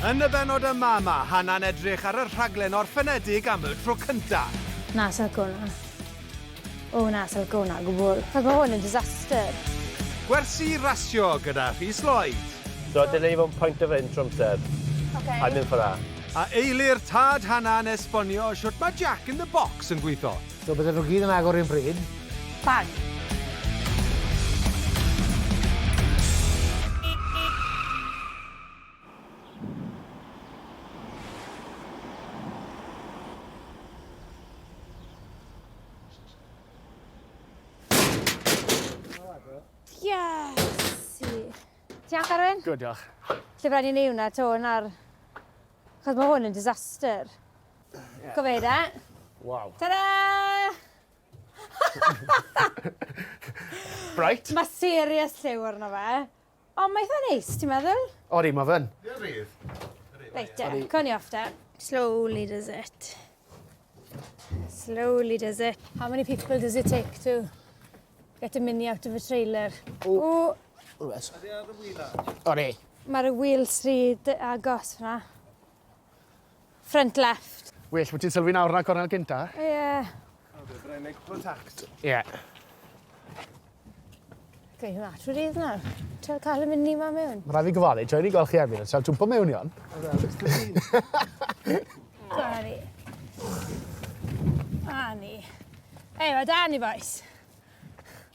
Yn y bennod yma, mae Hannah'n edrych ar y rhaglen orffenedig am y tro cyntaf. Na, sa lico hwnna. O na, sa lico hwnna o gwbwl. Ac mae hwn yn disaster. Gwersi rasio gyda Rhys Lloyd. So, dyna ni mewn point of entry amser. Ok. I'm in for that. A eilir tad Hannah yn esbonio shwt mae Jack in the Box yn gweithio. So, bydden nhw gyd yn agor un pryd. Bang. Good, diolch. Lle rhaid i ni hwnna, to, yn ar... Chos mae hwn yn disaster. Yeah. Gofeir e. Wow. Ta-da! Bright. Mae serious lliw arno fe. O ma eitha neis ti'n meddwl? Odi ma fyn. Ie rhydd. Reit de, co ni off de. Slowly does it. Slowly does it. How many people does it take to get a mini out of a trailer? O. O. Rwbeth. Odi ar y wheel. Odi. Mae'r wheels rhy agos fyna. Front left. Well bo' ti'n sylwi nawr na cornel gynta. Ie. O be' bynnag neud cwpwl o tacs. Ie. Going that route is now. Trial ca'l y mini ma mewn. Ma' rai' fi gyfalu tra o'n i'n gwel' chi Emyr yn trial twmpo mewn i 'on. O na jyst y un. A 'na ni. A ni. Ei, ma' 'da ni bois.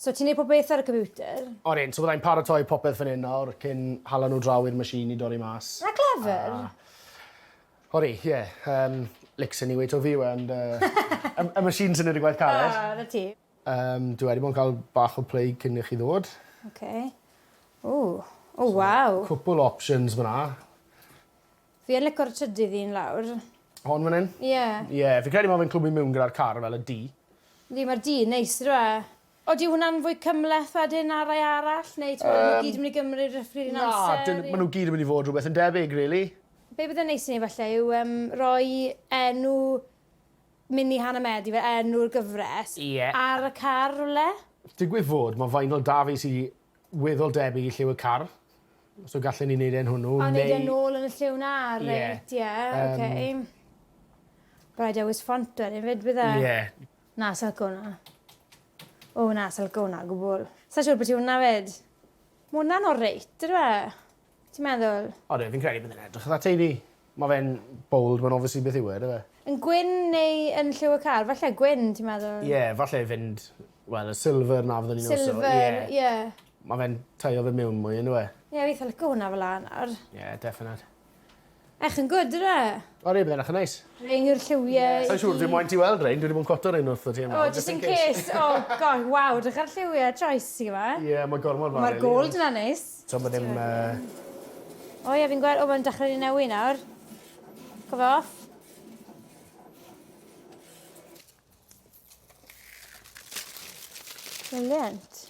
So ti'n neud pob peth ar y computer? O'n i'n, so byddai'n paratoi popeth fan hyn nawr cyn hala nhw draw i'r machine i dorri mas. Na clever! A o'n i, ie, yym, licks yn UHOV yw e ond yy y machine sy'n neud y gwaith caled. O, 'na ti. Yym, dwi wedi bod yn cael bach o play cyn i chi ddod. Ok. Ww. O waw! Cwpwl o options fan'na. Fi yn lico'r trydydd un lawr. Hon fan 'yn? Ie. Ie fi credu ma' fe'n clwmu miwn gyda'r car fel y du. Yndi ma'r du yn neis on'd yw e? Odi hwnna'n fwy cymhleth wedyn na rai arall neu t'mod ma' n'w gyd yn myn' i gymryd r- rhif un amser? Na 'dyn ma' n'w gyd yn myn' i fod rwbeth yn debyg rili. Be' bydde'n neis i neu' falle yw yym roi enw Mini Hanner Medi fel enw'r gyfres. Ie. Ar y car rwle. Digwydd fod ma' vinyl 'da fi sy weddol debyg i Lliw y Car, so gallen ni neud e'n hwnnw neu... A neud e nôl yn y lliw 'na reit ie ok. But I'd always font o hynny 'fyd bydda? Ie. Na sai'n lico wnna. O na sai'n lico wnna o gwbwl. Sai'n siŵr byti wnna 'fyd. Ma' wnna'n oreit dydyw e? Ti'n meddwl? Odi fi'n credu bydd e'n edrych fatha teulu. Ma' fe'n bold ma'n obviously beth yw e on'd yw e? Yn gwyn neu yn lliw y car? Falle gwyn ti'n meddwl? Ie falle fynd wel y silver 'na fyddwn i'n iwso. Silver ie. Ma' fe'n taio fe miwn mwy on'd yw e? Ie fi itha lico hwnna fela nawr. Ie definate. Ech yn gwd, re? O re, bydd e'n eich yn neis. Rein yw'r lliwiau... Sa'n siŵr, dwi moyn ti weld rein, dwi wedi bod yn cwatio rein wrth y ti yma. O, just in case. O, gosh, waw, drych ar lliwiau Tracy yma. Ie, mae gormod fawr. Mae'r gold yna neis. So, mae ddim... O ie, fi'n gweld, o, mae'n dechrau ni newi nawr. Cof off. Brilliant.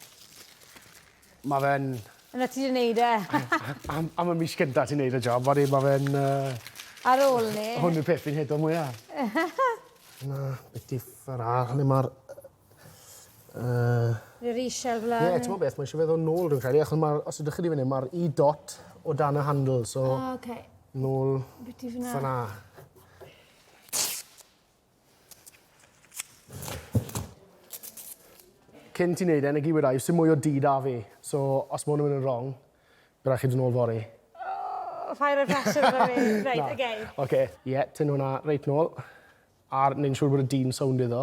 Mae fe'n... Yna ti wedi neud e. am, am y mis gyntaf ti'n neud y job, wedyn mae fe'n... Uh, Ar ôl ni. Hwn yw'r peth fi'n hedo mwyaf. Na, beth differ a, hynny mae'r... Uh, Yr eisiau flan. Ie, ti'n beth, mae eisiau feddwl nôl rhywun credu, achos mae'r, os ydych chi wedi fyny, mae'r i e dot o dan y handle, so... Ah, okay. Nôl... Beth i fyna? Fyna. Cyn ti neud e, negi weda i, sdim mwy o du da fi. So, os ma hwn yn mynd yn wrong, by rai chi dod nôl fory. Oh, fire of passion efo fi. Reit, oce. Okay. Oce. Okay. Ie, yeah, tynnu hwnna reit nôl. Ar, neud yn siŵr bod y du'n sownd iddo.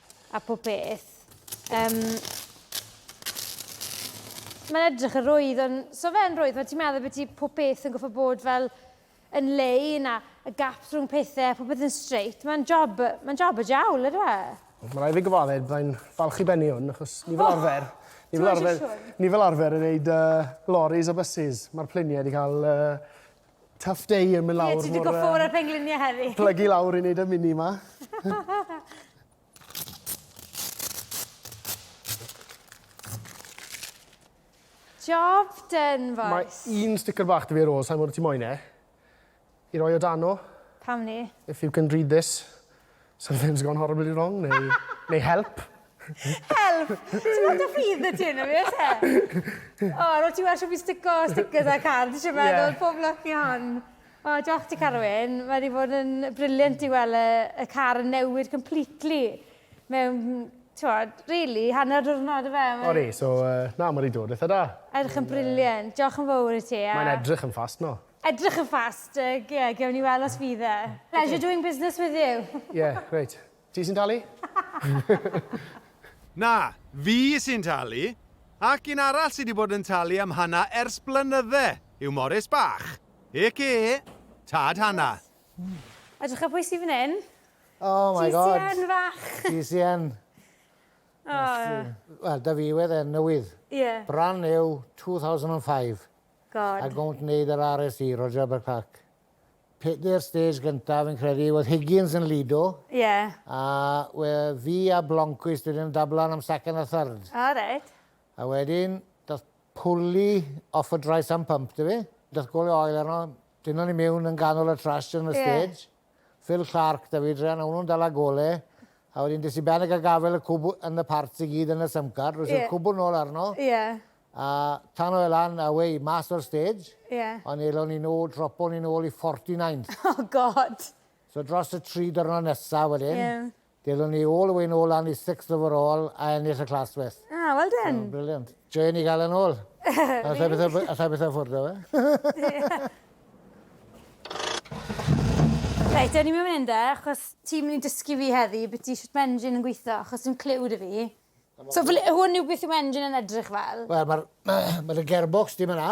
a pob peth. Um, mae'n edrych yn rwydd, ond so fe'n rwydd, mae ti'n meddwl bod ti pob peth yn goffa bod fel yn lei na y gap rhwng pethau, pob peth yn straight. Mae'n job, mae'n job y jawl, ydw e? Mae rai fi gyfadded, byddai'n falch i benni hwn, achos ni fel oh! arfer, ni fel arfer, ni fel arfer yn neud uh, lorries a buses. Mae'r pluniau wedi cael uh, Tough day yn mynd lawr. Ie, ti di goffo o'r penglinia heddi. Plygu lawr i wneud y mini ma. Job done, boys. Mae un sticker bach dy fi ar ôl, sa'n gwybod ti moyn e. I roi o dano. Pam ni? If you can read this. Something's gone horribly wrong neu neu help. Help! Ti'n gweld y ffydd y ti yna fi oes e? O, rwyt ti wedi fi stico stickers a card, ti'n meddwl, pob lwc i hon. O, diolch ti Carwyn, mae wedi bod yn briliant i weld y car yn newid completely mewn Tywod, really, hanner diwrnod y fe. O re, so uh, na, mae wedi dod eitha da. Edrych yn briliant. Diolch yn fawr i ti. Mae'n edrych yn ffast no. Edrych yn fast, yy, ie, gewn ni weld os fydd e. Pleasure doing business with you. Ie, grêt. Ti sy'n talu? Na, fi sy'n talu. Ac un arall sy 'di bod yn talu am Hana ers blynydde yw Morris bach, aka Tad Hana. Edrycha pwy sy fan 'yn. Oh my God! GCN fach! GCN. O! Wel, 'da fi wedd e'n newydd. Ie. Brand new, 2005. God. Ac wnt wneud yr RSC, Roger Albert Clark. Pedair stage gyntaf fi'n credu, oedd Higgins yn lido. Ie. A we, fi a Blomqvist wedyn yn dablan am second a third. O, reit. A wedyn, doth pwli off y dry sump pump, da fi. Doth gole oil arno, dynon ni mewn yn ganol y trash yn y stage. Ie. Phil Clarke, David Ryan, o'n nhw'n dala gole, a wedyn des i ben ag a gafel y cwb yn y parts i gyd yn y symcar, roes i'r cwbl nôl arno, a tano fe lan a wei, mas o'r stage, ond elon ni nôl, dropo ni nôl i 49th. Oh God! So dros y tri dyrnod nesaf wedyn, Ddelwn ni all the way nôl lan i sixth overall a ennill y Class West. Ah, well done. So, brilliant. Joio ni gael yn ôl. Alla i beth o ffwrdd o fe. Reit, o'n i'n mynd mynd e, achos ti'n mynd i dysgu fi heddi beth i sut mae engine yn gweithio, achos ti'n clyw dy fi. So, hwn yw beth yw engine yn edrych fel? Wel, mae'r ma, ma gearbox dim yna.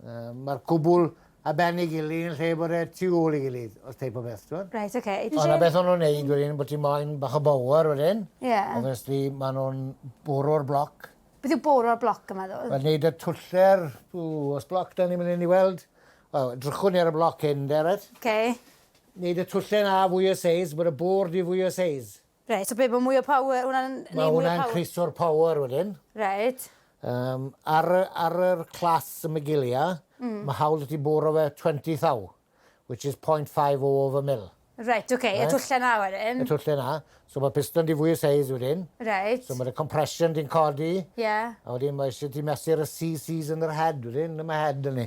Mae'r cwbl ar ben ei gilydd yn lle bod e tu ôl ei gilydd, os teip o beth, t'mod? Reit, oce. Ond 'na beth o'n nhw'n neud wedyn, bo' ti moyn bach o bower wedyn. Ie. Obviously, ma' nhw'n bwrw'r bloc. Beth yw bwrw'r bloc yn meddwl? Wel, neud y twller, ww, o's bloc 'da ni myn 'yn i weld? Wel, drychwn ni ar y bloc hyn 'de, reit? Oce. Neud y twlle 'na fwy o seis, bod y bwr 'di fwy o seis. Reit, so be' ma' mwy o power hwnna'n neud mwy o power? Ma' hwnna'n increasio'r power wedyn. Reit. Yym ar y ar yr class y Magilia... Hmm. ...ma' hawl 'da ti bwrw fe twenty thou which is point five oh of a mil. Reit ok. Reit? Y twlle 'na wedyn. Y twlle 'na. So ma' piston 'di fwy o seis wedyn. Reit. So ma' dy compression di'n codi. Ie. A wedyn ma' isie ti mesur y CCs yn yr head wedyn, yn y head 'da ni.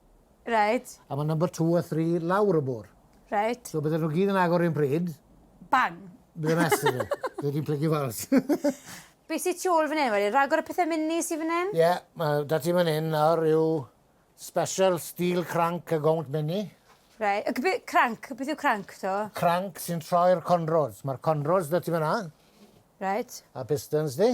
Reit. A ma' number two a three lawr y môr. Reit. So bydden nhw gyd yn agor un pryd. Bang! Bydde mess yn nhw. Bydde ti'n plygu fals. Be sy tu ôl fan hyn wedyn? Ragor o pethe mini sy fan hyn? Ie, ma' 'da ti fan hyn nawr yw special steel crank a gownt mini. Rei- y gbe- crank, beth yw crank to? Crank sy'n troi'r conrods. Ma'r conrods 'da ti fan 'na. Reit. A pistons di.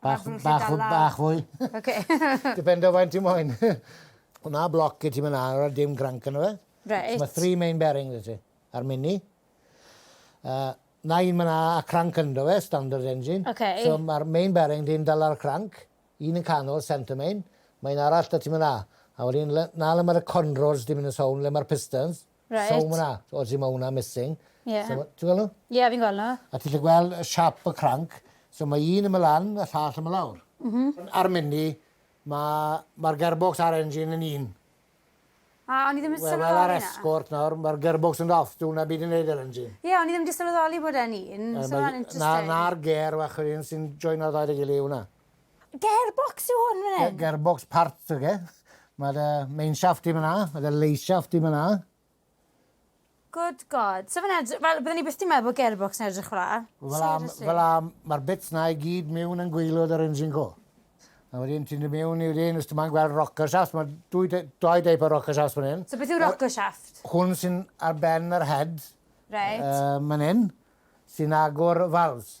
Bach, bach, bach fwy. Oce. Depende o faint ti moyn. Hwna bloc i ti myn 'na, a dim granc yno fe. Reit. Ma three main bearing 'da ti. A'r mini. Yy, 'na un myn 'na a cranc ynddo fe, standard engine. Oce. So ma'r main bearing di'n dala'r cranc, un yn canol, centre main, ma un arall 'da ti myn 'na. A wedyn le- 'na le ma'r conrods di myn yn sown, le ma'r pistons. Reit. So ma' wnna, o ti ma' wnna missing. Ie. So ma', ti'n gwel' nw? Ie fi'n gwel' nw. A ti 'llu gwel' y siâp y cranc, so ma' un yma lan a llall yma lawr. M-hm. Ar Mini ma' ma'r gearbox a'r engine yn un. A o'n i ddim yn sylweddoli 'na. Wel ar Escort nawr ma'r gearbox yn off, dyw wnna byd i neud a'r engine. Ie o'n i ddim 'di sylweddoli bod e'n un, so ma'n interesting. Na na'r gêr fach yr un sy'n joino'r ddau 'da gily yw wnna. Gearbox yw hwn fan hyn? Gearbox parts yw e. Mae'r uh, main shaft i fyna, mae'r lay shaft i fyna. Good god. So fyna, fel, byddwn ni byth di meddwl bod gearbox yn edrych fel Fel a, mae'r bits na i gyd mewn yn gweilod yr engine go. A wedyn ti'n dod mewn i'r un, os ti'n gweld rocker shaft, mae dwy, dwy deip o rocker shaft fan hyn. So beth yw rocker shaft? Hwn sy'n ar ben yr head. Right. Uh, man hyn, sy'n agor valves.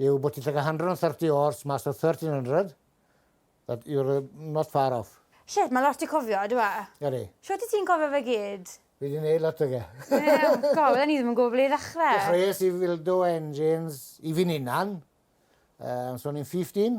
yw bod ti'n llygad 130 oars mas o 1300, that you're not far off. Shit, mae lot i cofio, ydw e? Ydy. Shwt i ti'n cofio fe gyd? Fi wedi gwneud lot o ge. Wel, god, oedden ni ddim yn gwybod ble i ddechrau. Dechreuais i fildo engines i fi'n unan, uh, so o'n i'n 15.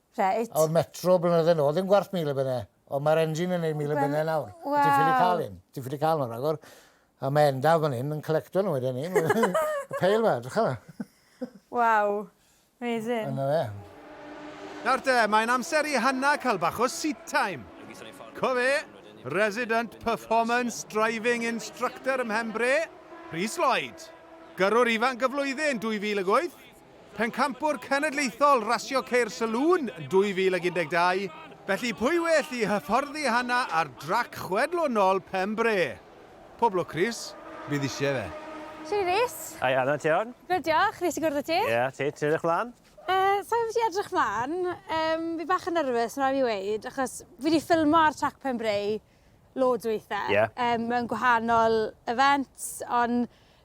Reit. O'r Metro blynydde nôl, ddim gwarth mil y benne, ond mae'r engine yn neud mil y benne nawr. Wel. Ti'n ffili cael un, ti'n ffili cael nhw ragor. A mae Endaf fan hyn yn collecto nhw wedyn ni. y peil ma, drycha ma. Waw, amazing. Yna fe. Nawr te, mae'n amser i Hanna cael bach o seat time. Co fe, Resident Performance Driving Instructor ym Mhenbre, Rhys Lloyd. Gyrrwr ifanc y flwyddyn 2008, Pencampwr Cenedlaethol Rasio Ceir Saloon 2012, felly pwy well i hyfforddi Hana ar drac chwedlonol Pen-bre? Pob lwc Rhys, bydd isie fe. Shwmae Rhys. Hi Anna, ti iawn? Good diolch, nes i gwrdd â ti. Ie, a ti, ti'n edrych mlan? Yy, sai'n gwbod beth i edrych mlan, yym fi bach yn nervous ma' rai' fi weud, achos fi 'di ffilmo ar trac Pen-bre loads o weithe. Ie. Yym mewn gwahanol events, on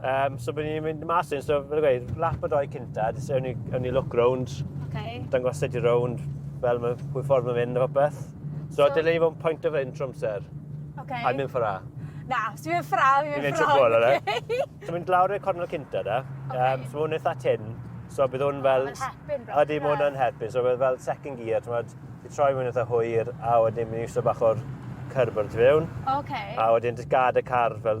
Um, so byddwn ni'n mynd mas yn, so fel gweud, lap o doi cynta, jyst ewn ni, ewn ni look round, okay. dangos sut i round, fel mae pwy ffordd mae'n mynd o beth. So, so... dylai i fod yn point of hyn trwy amser. Okay. A mynd ffra. Na, os ti'n mynd ffra, fi'n mynd ffra. Fi'n mynd trwy bol, okay. So mynd lawr i'r cornel cynta da. Okay. Um, so mae'n eitha tin. So bydd hwn fel... Mae'n hepyn. A di mwyn yn hepyn. So bydd fel second gear, ti'n mynd, i troi mwyn eitha hwyr, a wedyn mynd i wso bach o'r cyrb o'r tu fewn. Okay. A wedyn just gad y car fel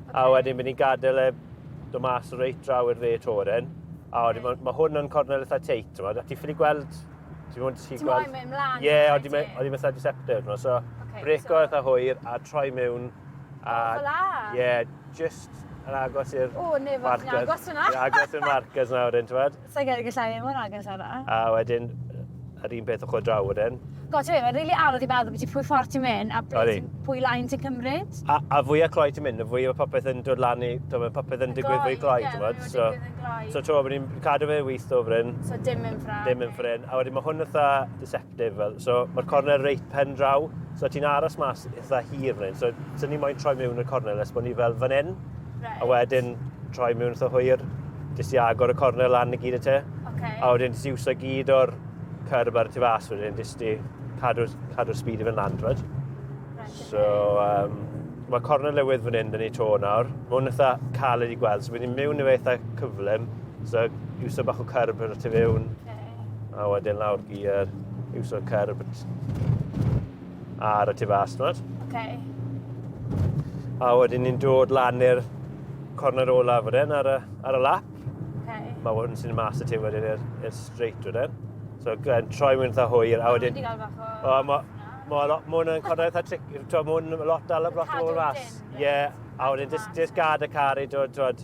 A wedyn mynd i'n gadael e do mas reit draw i'r dde toren. A wedyn mae ma hwn yn cornel eitha teit, ti'n meddwl. Ti'n ffili gweld... Ti'n meddwl ti'n gweld... Ti'n moyn mynd mlaen? Ie, ond i'n meddwl eitha deceptive. No? So, okay, breco so... eitha hwyr a troi mewn. A, oh, fel a? Ie, yeah, just yn agos i'r... O, nefod, yn agos yna. agos i'r markers nawr, ti'n meddwl. Sa'n credu gallai fi mor agos â 'na. A wedyn yr un peth ochr draw wedyn. God, ti'n mynd, mae'n rili anodd i meddwl beth pwy ffordd ti'n mynd a ble ti'n, pwy lain ti'n cymryd. A, a fwyaf cloi ti'n mynd, y fwyaf mae popeth yn dod lan i, ti'n mynd, popeth yn digwydd fwy cloi, ti'n mynd. So, so ti'n mynd, ni'n cadw fe wyth o fryn. So dim yn ffrin. Dim yn ffrin. A wedyn mae hwn ytha, Difyr. So, mae'r cornel reit pen draw. So, ti'n aros mas eitha hir fan hyn. So, sy'n ni moyn troi mewn y cornel nes bod ni fel fan hyn. Right. A wedyn, troi mewn eitha hwyr. Jyst i agor y cornel lan i gyd y te. Okay. A wedyn, jyst i wsa gyd o'r cyrb ar y tu fas wedyn, jyst i cadw'r cadw speed i fy'n lan, right? right so, um, mae cornel lywydd fan hyn, dyn ni to nawr. Mae hwn eitha caled i gweld, so byddwn ni'n mewn i fe eitha cyflym. So, iwsa bach o cyrb yn y tu fewn. Okay. A wedyn lawr gyr, iwsio'r cyrb ar y tu fas, ti'n Okay. A wedyn ni'n dod lan i'r corner olaf wedyn ar y, ar y lap. Okay. Mae wedyn sy'n mas y ti wedyn i'r straight wedyn. So, yn troi mewn eitha hwyr, a wedyn... O, mae Mae lot mwy yn codi eitha tric, ti'n mwyn lot dal y blot yn ôl fas. Ie, a wedyn jyst gad y car i dod, ti'n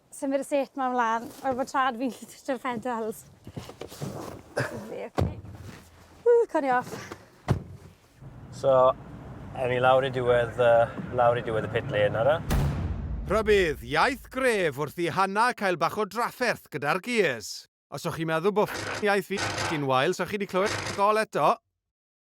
Sdim byd y set ma mlan. Wel ma trad fi'n gallu twtio'r pedals. Lyfli, oce. Ww, cawn ni off. So, ewn ni lawr i diwedd, uh, lawr i diwedd y pit lane ara. Rhybudd, iaith gref wrth i Hanna cael bach o drafferth gyda'r gears. Os o'ch chi'n meddwl bod iaith fi yn wael, so chi wedi clywed gol eto.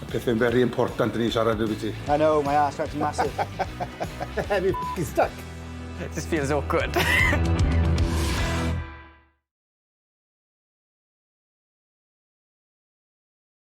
Y peth yn very important yn ei siarad dwi ti. I know, my ass crack's massive. Have you f***ing stuck? This feels awkward.